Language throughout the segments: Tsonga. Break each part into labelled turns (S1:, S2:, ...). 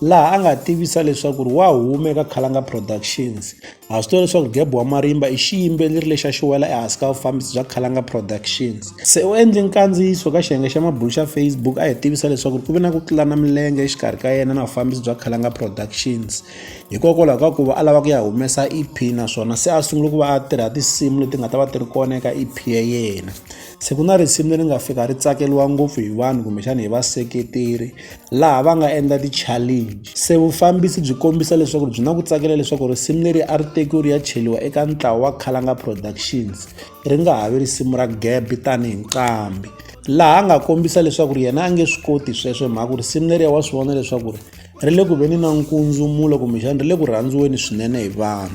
S1: laha a nga tivisa leswaku ri wa huma eka Khalanga Productions ha swi tiva leswaku Geb wa Marimba i xiyimbeleri lexi a xi wela ehansi ka vufambisi bya Khalanga Productions se u endle nkandziyiso ka xiyenge xa mabulo xa Facebook a hi tivisa leswaku ku ve na ku tlulana milenge exikarhi ka yena na vufambisi bya Khalanga Productions hikokwalaho ka ku va a lava ku ya humesa EP naswona se a sungula ku va a tirha tinsimu leti nga ta va ti ri kona eka EP ya yena Se ku na risimu leri nga fika ri tsakeriwa ngopfu hi vanhu kumbexana hi vaseketeri laha va nga endla ti-challenge se vufambisi byi kombisa leswaku byi na ku tsakela leswaku risimu leri a ri tekiwe ri ya cheliwa eka ntlawa wa khalanga productions ri nga ha vi risimu ra gabi tanihi nqambi laha a nga kombisa leswaku ri yena a nge swi koti sweswo hi mhaka ku risimu leriya wa swi vona leswaku ri ri le ku veni na nkundzumulo kumbexana ri le ku rhandziweni swinene hi vanhu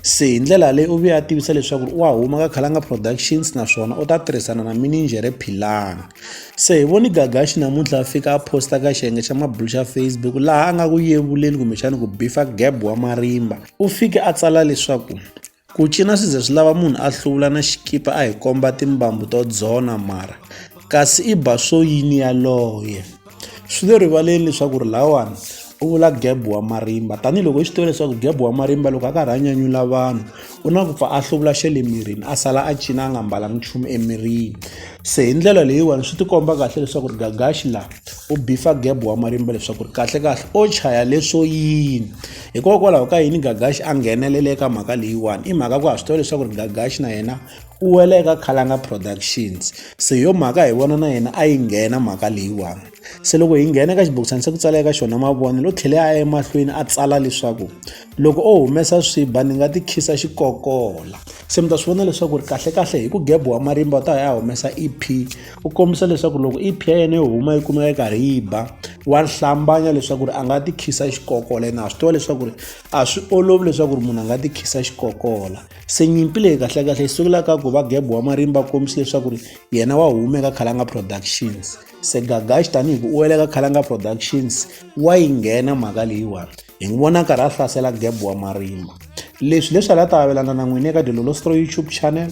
S1: se hi ndlela leyi u vuya a tivisa leswaku wa huma ka khalanga productions naswona u ta tirhisana na mininjhere philanga se hi voni gagaxi namuntlha a fika a posta ka xiyenge xa mabulu xa facebook laha a nga ku yevuleni kumbexana ku bifa gab wa marimba u fike a tsala leswaku Ku cina swi ze swi lava munhu a hluvula na xikipa a hi komba timbambu to dzona mara kasi i ba swo yini yaloye swi le rivaleni leswaku ri lawani u vula geb wa marimba tanihiloko i swi tiva leswaku geb wa marimba loko a karhi a nyanyula vanhu u na ku pfa a hluvula xe le mirini a sala a cina a nga mbalanga nchumu emirini se hi ndlela leyiwani swi tikomba kahle leswaku ri gagaxi laha u bifa geb wa marimba leswaku ri kahlekahle o chaya leswo yini Hikokwalaho ka yini Gagax a nghenelele eka mhaka leyiwani i mhaka ku ha swi tiva leswaku ri Gagax na yena u wela eka Khalanga Productions se hi yo mhaka hi vona na yena a yi nghena mhaka leyiwani se loko hi nghena eka xibokisana se ku tsala eka xona mavonelo u tlhele a ya emahlweni a tsala leswaku loko o humesa swiba ni nga ti khisa xikokola se mi ta swi vona leswaku ri kahlekahle hi ku gebuwa marimba u ta ya humesa EP u kombisa leswaku loko i phya yena yo huma yi kumeka yi karhi yi ba wa hlambanya leswaku ri a nga ti khisa xikokola yena a swi tiva leswaku ri a swi olovi leswaku ri munhu a nga ti khisa xikokola se nyimpi leyi kahlekahle yi sukela ka ku va gebo wa marimba kombisa leswaku ri yena wa humeka khalanga productions se gagaxi tanihi ku u wele ka khalanga productions wa yi nghena mhaka leyiwani hi n'wi vona karhi a hlasela gebo wa marimba leswi leswi a la ta avelana na n'wini eka dilolostro youtube channel